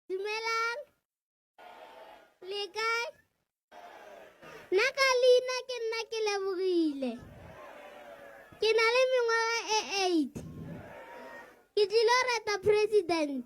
Dumelang. Le kae? Nna ka leina ke nna ke lebogile. Ke na le mengwaga e eight. Ke tlilo reta president.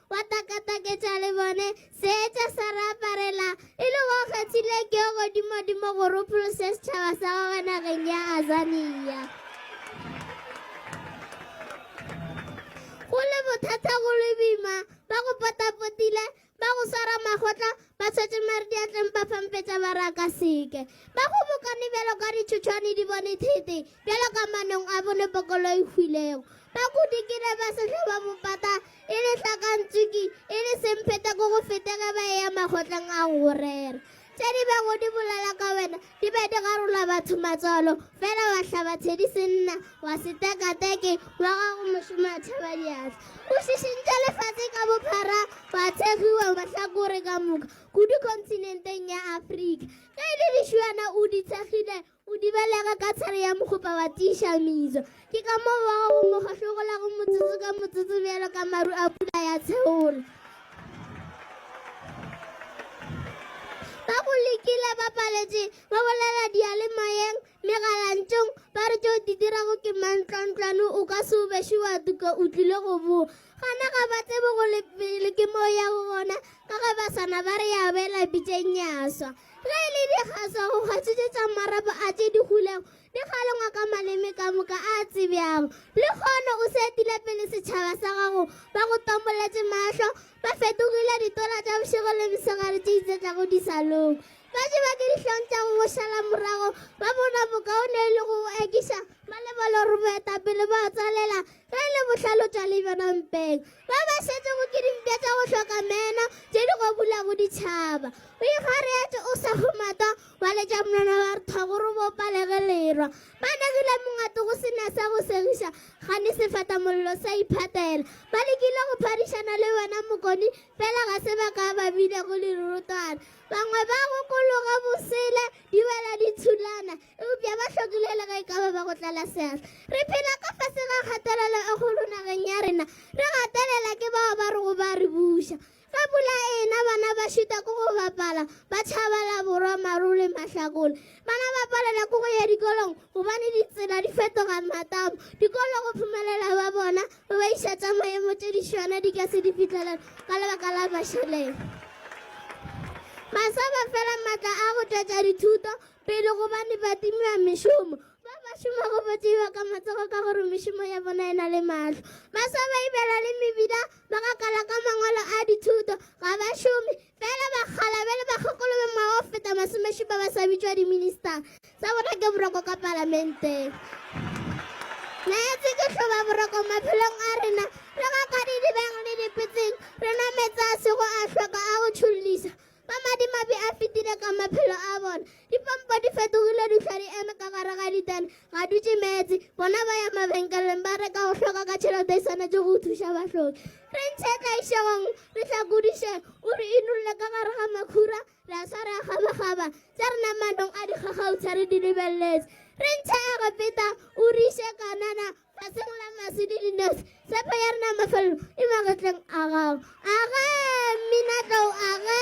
wa takataketša le bone seetša sa re aparela e le go kgethile ke yo godimodimo go ropolose setšhaba sa gagwe nageng ya azania go le bothata go le boima ba go potapotile ba go swara makgotla Ba tshwetše mare diatleng ba fampetša ba re a ka seke. Ba kgobokane bjalo ka ditšhotšhwane di bone thete, bjalo ka manong a bone pokolo e hwilego. Ba kudikile ba sehlo ba bopata, e le hlakantsuki, e le semphetha ko go fete ge ba eya makgotleng a go go rera. Tše di bego di bolela ka wena Ke be ke garola batho matswalo, fela wa hlaba thedi senna, wa se teka teke, wa gago mošomo a tšhaba diatla. O šišintše lefase ka bophara, wa thegiwa mahlakore ka moka, kudu kontinenteng ya Afrika. Ge e le dišuana o di thekgile, o di belega ka tshare ya mokgopa wa tiiša mizo. Ke ka moo wa gago mo kgahlogolago motsotso ka motsotso bjalo ka maru a pula ya tsheolo. Ba go lekile ba paletše, ba bolela diyalemoyeng, megalantšong, ba re tšeo di dirago ke mantlwantlwane o ka se o bešo wa tuka o tlile go boa. Gana ga ba tsebe go le pele ke mo ya go gona ka ge ba sana ba re ya bela pitšeng ya swa. Ge e le dikgaswa go kgatšitše tša marapo a tše di hulego Ke kgale ngwaka maleme ka moka a a tsebjago. Lekgono o setile pele setšhaba sa gago, ba go tomboletše mahlo, ba fetogile ditola tša bošego le mesegare tše itsetlago disalong. Ba jewa ke dihlong tša go go šala morago, ba bona bokaone e le go go ekiša, ba lebala gore boetapele bo a tswalela ge e le bohlale o tšwa le bjona mpeng. Ba ba šetšego ke dimpša tša go hloka meno tše di go bulago ditšhaba. O ikgareetše o sa kgomatwa, ba letša monwana ba re tha gore bo palege lerwa ba negile mongate go sena sa go segiša gane sefata mollo sa iphatela ba lekile go phadišana le wena mokoni fela ga se ba ka ba bile go lerurutwana bangwe ba go kologa bosele di bela di thulana eupša ba hlokile le ge e ka ba ba go tlala seatla re phela ka fase ga kgatelelo e kgolo nageng ya rena re gatelela ke bao ba re go ba re buša Ka pula ena bana ba šita ke go bapala, ba tšhaba la borwa maru le mahlakole. Bana ba palela ke go ya dikolong gobane ditsela di fetoga matamo. Dikolo go phumelela ba bona go ba iša tša maemo tše dišwana di ka se di fihlelele ka lebaka la mašeleng. Baswa ba fela matla a go tšwetša dithuto pele gobane ba timiwa mešomo. Ba ba šomago ba tseiwa ka matsogo ka gore mešomo ya bona e na le mahlo. Baswa ba ibela le mebila ba gakala ka mangwalo a dithuto ga ba šome fela bakgalabe le bakgokolo ba mao go feta masomešupa ba sa bitšwa diminista sa bona ke boroko ka palamenteng naetse ke tlhoba boroko maphelong a rena re ga ka didibeng le dipetseng re nametsa a sego a tlhoka a go tšhollisa Ba madimabe a fetile ka maphelo a bona. Dipompo di fetogile dihlwa di eme ka gare ga ditene, ga dutše meetse. Bona ba ya mabenkeleng ba reka go hloka ka tšhelete e swanetše go thuša bahloki. Re ntshe tlaišegong, re hlakodiše, o re inulle ka gare ga makhura, re a swa re a gabagaba, tša rena manong a dikgakgautshwa re di lebeletse. Re ntshe Egepeta, o re iše Kanana, Ra semola maswi le dinosi, tshepho ya rena mafelelo e magetleng a gago. Age, mminatlou, age!